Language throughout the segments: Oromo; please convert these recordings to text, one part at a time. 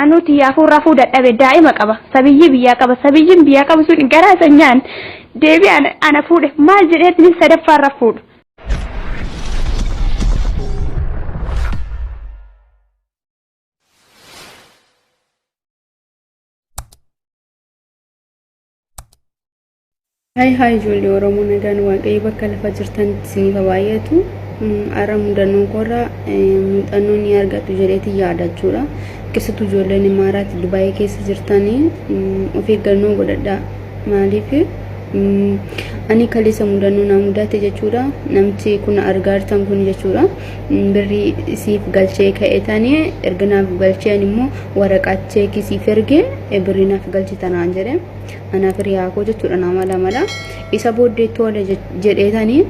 Anuu tiyyaafuu rafuu dadhabe daa'ima qaba sabiyyii biyyaa qaba sabiyyiin biyyaa qabu sun garaa isa nyaan deebi ana fuudhe maal jedheetni sadaffaa irra fuudhu. Haay haay ijoollee Oromoo nagaan waaqayyo bakka lafa jirtanitti isiniif haa baay'atu. Har'a mudannoon koorraa muuxannoo ni argatu jedheetiin yaada jechuudha. Keessattuu ijoolleen Imaaraati Dubaayii keessa jirtanii of eeggannoo godhadhaa. Maaliif ani kaleessa mudannoo naa mudate jechuudha. Namti kun argaa jirtan kun jechuudha. Birrii isiif galchee ka'etanii erga naaf galcheen immoo waraqaa cheekii siif ergee birrii naaf galchitanaan jedhe. Anaaf hiriyaa koo jechuudha nama lamadha. Isa booddee tole jedheetanii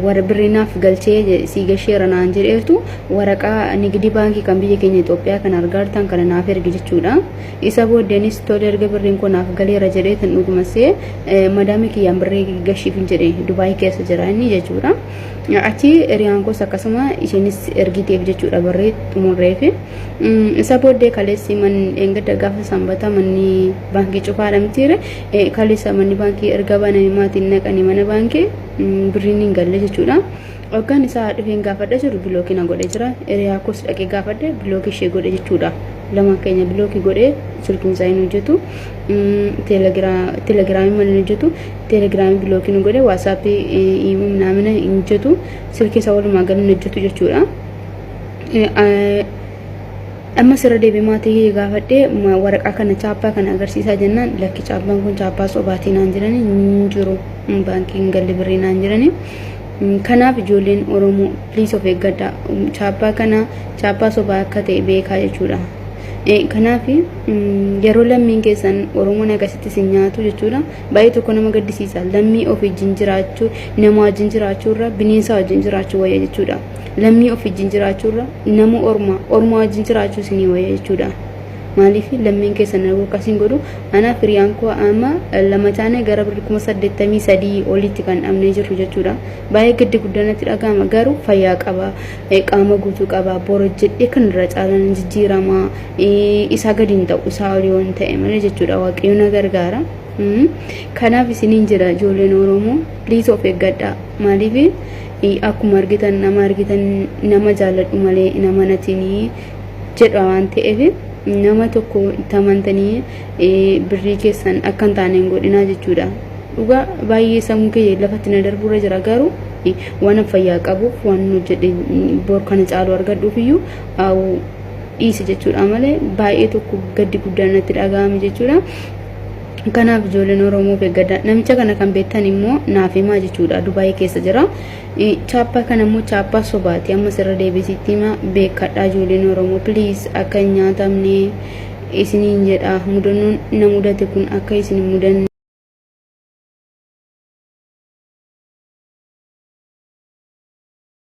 warra birrii naaf galchee sii gasheera naan jedheertu waraqaa nigdi baankii kan biyya keenya Itoophiyaa kan argaartan kana naaf ergi jechuudha. Isa booddeenis tole erga birriin koo naaf galeera jedheetan dhuguma see madaamii kiyyaan birrii gashiif hin jedhe Dubaayii keessa jira inni jechuudha. Achi hiriyaan koos akkasuma isheenis ergiteef jechuudha birrii xumurreefi. Isa booddee kaleessi manni dheengadda gaafa sanbataa manni baankii cufaadha mitiire kaleessa manni baankii erga baname maatiin naqanii mana baankii birriin hin galle jechuudha. Hoggaan isaa dhufeen gaafadha jiru bilookii na godhe jira. Hiriyaa koos dhaqee gaafadhe bilookii ishee godhe jechuudha. Lama keenya bilookii godhee silkiin isaa hin hojjetu. Telegiraamii malee hin hojjetu. Telegiraamii bilookii nu godhe waasaappii immoo naamina hin hojjetu. Silkii isaa walumaa gala hin hojjetu jechuudha. amma sirra deebi maatii kiyya gaafadhee waraqaa kana chaappaa kana agarsiisaa jennaan lakki chaappaan kun chaappaa sobaatii naan jiranii hin jiru baankii hin galle birrii naan jiranii kanaaf ijoolleen oromoo please of eeggadha chaappaa kana chaappaa sobaa akka ta'e beekaa jechuudha kanaaf yeroo lammiin keessan oromoon akkasitti isin nyaatu jechuudha baay'ee tokko nama gaddisiisa lammii ofii wajjin jiraachuu nama wajjin jiraachuu irra bineensa wajjin jiraachuu wayya jechuudha. lammii of wajjin jiraachuu irra nama ormaa ormaa wajjin jiraachuu isinii wayya jechuudha. Maaliif lammiin keessan arguu akkasiin godhu anaa firiyaan koo amma lama taane gara birri kuma saddeettamii sadii olitti kan dhabnee jirru jechuudha. Baay'ee gaddi guddanatti dhaga'ama garuu fayyaa qaba qaama guutuu qaba borojjedhee kan irra caalaan jijjiirama isaa gadi hin ta'u isaa olii waan ta'e malee jechuudha waaqayyo na gargaara. Kanaaf isiniin jira ijoolleen Oromoo please of eeggadhaa maaliif akkuma argitan nama argitan nama jaalladhu malee hin amanatinii jedha waan ta'eef nama tokko itti amantanii birrii keessan akka hin taane hin godhinaa jechuudha. Dhugaa baay'ee sammuu kiyya lafatti na darbuurra jira garuu waan fayyaa qabuuf waan hojjedhe bor kana caalu argadhuuf iyyuu dhiise jechuudha malee baay'ee tokko gaddi guddaan natti dhaga'ame jechuudha. Kanaaf ijoolleen Oromoo beekgadha. Namicha kana kan beektan immoo naaf himaa jechuudha. Dubaayii keessa jira. Chaappaa kana immoo chaappaa sobaati. Ammas irra deebisitti hima beekadha ijoolleen Oromoo. Please akka hin nyaatamne isiniin jedha. Mudannoon na mudate kun akka isin hin mudanne.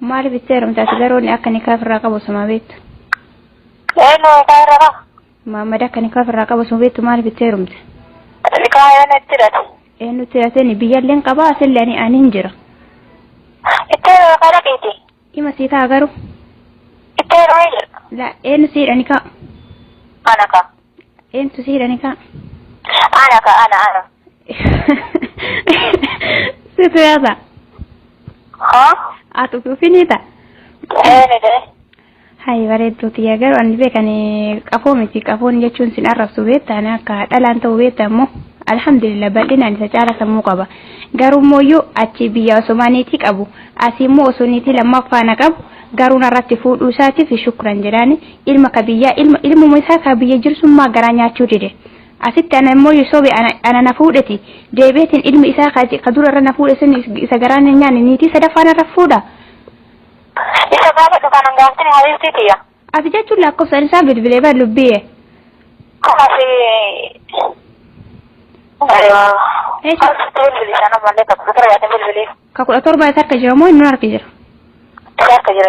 Maaliif itti heerumte ati garuu inni akka nikaa ofirraa qabu osuma beektu. Eenyu nikaa irra qaba? Maammad akka nikaa ofirraa qabu osuma beektu maaliif itti heerumte? Nikaa eenyu itti hidhate? Eenyutti hidhatee biyyalleen qabaa asillee ani ani hin jira. Itti heeruma kana dhiiti. Ima sii ta'a garuu. Itti heerumee jira. La eenyu sii hidha nikaa? Ana ka. Eenyutu sii hidha nikaa? Ana ka ana ana. Situ yaasa. Ha? Ati utuu finiita. Eenidhe? Hayi bareedduu tiyya garuu ani beekan qafoo miti qafoon jechuun sin arrabsu beektaan akka dhalaan ta'u beekta immoo alhamdulillah bal'inaan isa caala sammuu qaba garuu immoo yoo achi biyya osomaa niitii qabu asii immoo osoo niitii lammaffaa na qabu garuu narratti fuudhuu isaatiif shukran jedhaani ilma ka biyyaa ilma ilmuma isaa ka biyya jirsummaa garaa nyaachuu dide Asitti ana immoo yo sobe ana, ana na fuudheti, deebi'eetiin ilmi isaa ka, ka dura irra na fuudhe sun is, isa garaan hin nyaanne niitii sadaffaa narra fuudha? Isa gaafadhu kanan gaaftini habiibtii tiyya. Ati jechuun lakkoofsaan isaa bilbilee bar lubbiye. Kanaaf Eesha. asitti bilbili sana malee takka tura yaadni bilbili Ka kudha torba isa harka jira moo inni harka jira? isa harka jira.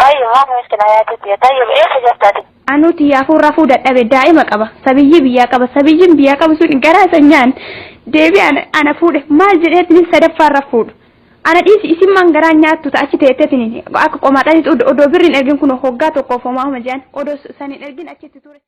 Tayyib maaf miskina yaati tiya tayyib eessa jirta ati. Anuu tiyyaafuu rafuu dadhabe daa'ima qaba sabiyyii biyyaa qaba sabiyyiin biyyaa qabu sun garaa isa nyaan deebi ana ana fuudhe maal jedheetinin sadaffaa irra fuudhu ana dhiisi isin maan garaa nyaattu ta achi teettetinin akka qomaadhanitti odoo birriin ergin kun hoggaa tokkoof homaa homa jedhan odoo saniin ergin achitti ture.